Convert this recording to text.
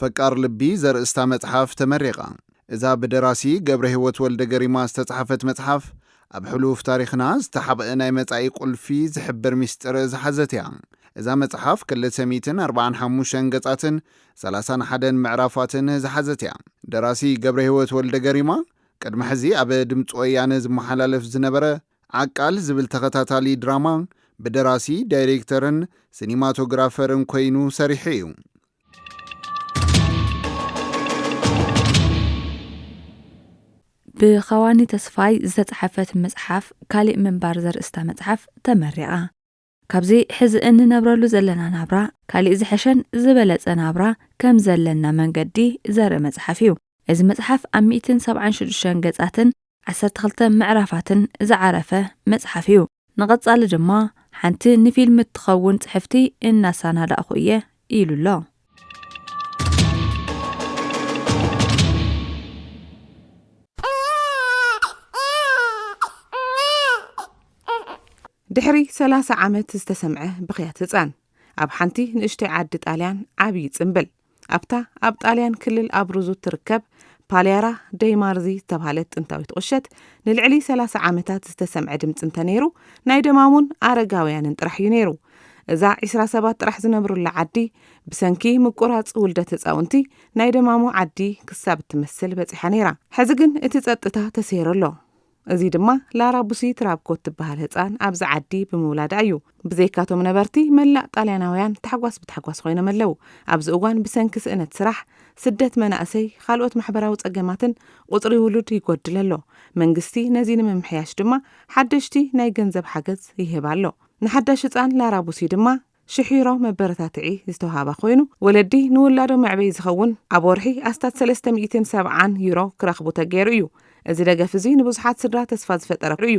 ፈቃር ልቢ ዘርእስታ መጽሓፍ ተመሪቓ። እዛ ብደራሲ ገብረሂወት ወልደገሪማ ዝተጽሓፈት መጽሓፍ፣ ኣብ ሕሉፍ ታሪኽና ዝተሓብኧ ናይ መጻኢ ቁልፊ ዝሕብር ሚስጢር ዝሓዘት እያ። እዛ መጽሓፍ ክልተ ሚእትን ኣርብዓን ሓሙሽተን ገጻትን ሰላሳን ሓደን ምዕራፋትን ዝሓዘት እያ። ደራሲ ገብረሂወት ወልደገሪማ፣ ቅድሚ ሕዚ ኣብ ድምጺ ወያነ ዝመሓላለፍ ዝነበረ ዓቃል ዝብል ተኸታታሊ ድራማ፣ ብደራሲ፣ ዳይሬክተርን ሲኒማቶግራፈርን ኮይኑ ሰሪሑ እዩ። ብኸዋኒ ተስፋይ ዝተጽሓፈት መጽሓፍ ካሊእ ምንባር ዘርእስታ መጽሓፍ ተመሪቓ ካብዚ ሕዚ እንነብረሉ ዘለና ናብራ ካሊእ ዝሐሸን ዝበለጸ ናብራ ከም ዘለና መንገዲ ዘርኢ መጽሓፍ እዩ እዚ መጽሓፍ ኣብ 176 ገጻትን ዓሰርተ ክልተ ምዕራፋትን ዝዓረፈ መጽሓፍ እዩ። ንቐጻሊ ድማ ሓንቲ ንፊልም እትኸውን ጽሕፍቲ እናሳናዳእኹ እየ ኢሉ ኣሎ። ድሕሪ ሰላሳ ዓመት ዝተሰምዐ ብኽያት ህጻን፣ ኣብ ሓንቲ ንእሽቶይ ዓዲ ጣልያን ዓብዪ ጽምብል። ኣብታ ኣብ ጣልያን ክልል ኣብሩዙ እትርከብ ፓልያራ ደይ ማርዚ ዝተብሃለት ጥንታዊት ቁሸት ንልዕሊ ሰላሳ ዓመታት ዝተሰምዐ ድምፂ እንተነይሩ ናይ ደማሙን ኣረጋውያንን ጥራሕ እዩ ነይሩ። እዛ ዒስራ ሰባት ጥራሕ ዝነብሩላ ዓዲ ብሰንኪ ምቁራፅ ውልደት ህፃውንቲ ናይ ደማሙ ዓዲ ክሳብ እትመስል በፂሓ ነይራ። ሕዚ ግን እቲ ፀጥታ ተሰይሩ ኣሎ። እዚ ድማ ላራ ቡሲ ትራብኮት ትበሃል ህጻን ኣብዚ ዓዲ ብምውላዳ እዩ። ብዘይካቶም ነበርቲ መላእ ጣልያናውያን ታሕጓስ ብታሕጓስ ኮይኖም ኣለው። ኣብዚ እዋን ብሰንኪ ስእነት ስራሕ፣ ስደት መናእሰይ፣ ኻልኦት ማሕበራዊ ጸገማትን ቁጽሪ ውሉድ ይጎድል ኣሎ። መንግስቲ ነዚ ንምምሕያሽ ድማ ሓደሽቲ ናይ ገንዘብ ሓገዝ ይህብ ኣሎ። ንሓዳሽ ህጻን ላራ ቡሲ ድማ፣ ሽሒሮ መበረታትዒ ዝተውሃባ ኮይኑ፣ ወለዲ ንውላዶም መዕበዪ ዝኸውን ኣብ ወርሒ ኣስታት ሰለስተ ሚእትን ሰብዓን ዩሮ ክረኽቡ ተገይሩ እዩ። እዚ ደገፍ እዚ ንብዙሓት ስድራ ተስፋ ዝፈጠረ እዩ።